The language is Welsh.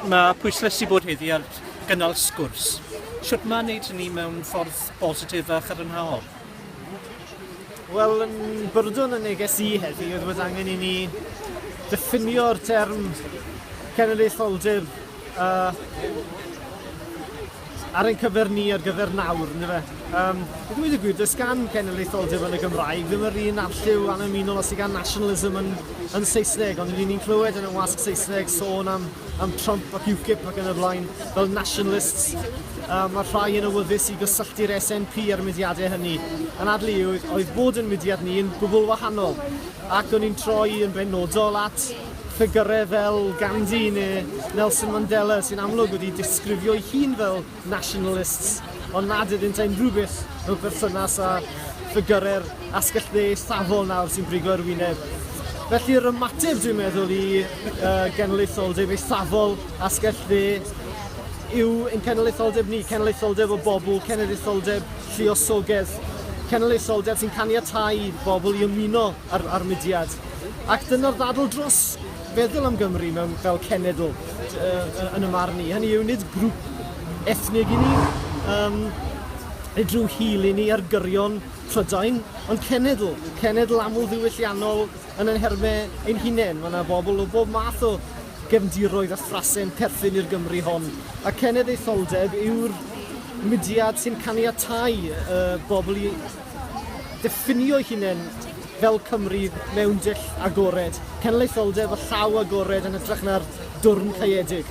Mae pwyslesu bod heddi ar gynnal sgwrs. Sut mae wneud hynny mewn ffordd bositif a chadarnhaol? Wel, yn byrdwn y neges i heddi oedd bod angen i ni ddiffinio'r term cenedlaetholdir uh, ar ein cyfer ni ar gyfer nawr, ynddo fe. Um, I ddweud y gwir, does gan genedlaetholdeb yn y Gymraeg ddim yr un arlliw annymunol os sydd gan nationalism yn, yn Saesneg, ond rydyn ni'n clywed yn y wasg Saesneg sôn am, am Trump ac UKIP ac yn y blaen fel nationalists. Um, mae rhai yn awyddus i gysylltu'r SNP ar y mudiadau hynny. Yn adlu oedd bod yn mudiad ni yn gwbl wahanol ac o'n i'n troi yn benodol at ffigyrau fel Gandhi neu Nelson Mandela sy'n amlwg wedi disgrifio'i hun fel nationalists, ond nad ydynt ein rhywbeth mewn perthynas â ffigyrau'r asgell dde eithafol nawr sy'n brigo ar wyneb. Felly'r ymateb dwi'n meddwl i uh, genedlaetholdeb eithafol asgell dde yw ein cenedlaetholdeb ni, cenedlaetholdeb o bobl, cenedlaetholdeb lluosogedd, cenedlaetholdeb sy'n caniatau bobl i ymuno ar, ar mudiad. Ac dyna'r ddadl dros feddwl am Gymru mewn fel cenedl yn y marn i. Hynny yw, nid grŵp ethnig i ni, um, nid rhyw hil i ni ar gyrion Prydain, ond cenedl, cenedl aml ddiwylliannol yn ein hermau ein hunain. Mae yna bobl o bob math o gefndiroedd a thrasau'n perthyn i'r Gymru hon. A cenedl ei tholdeb yw'r mudiad sy'n caniatau y bobl i ddiffinio'i hunain Fel Cymru mewn dull agored, cenedlaetholdeb a llaw agored yn hytrach na'r dwrn caeedig.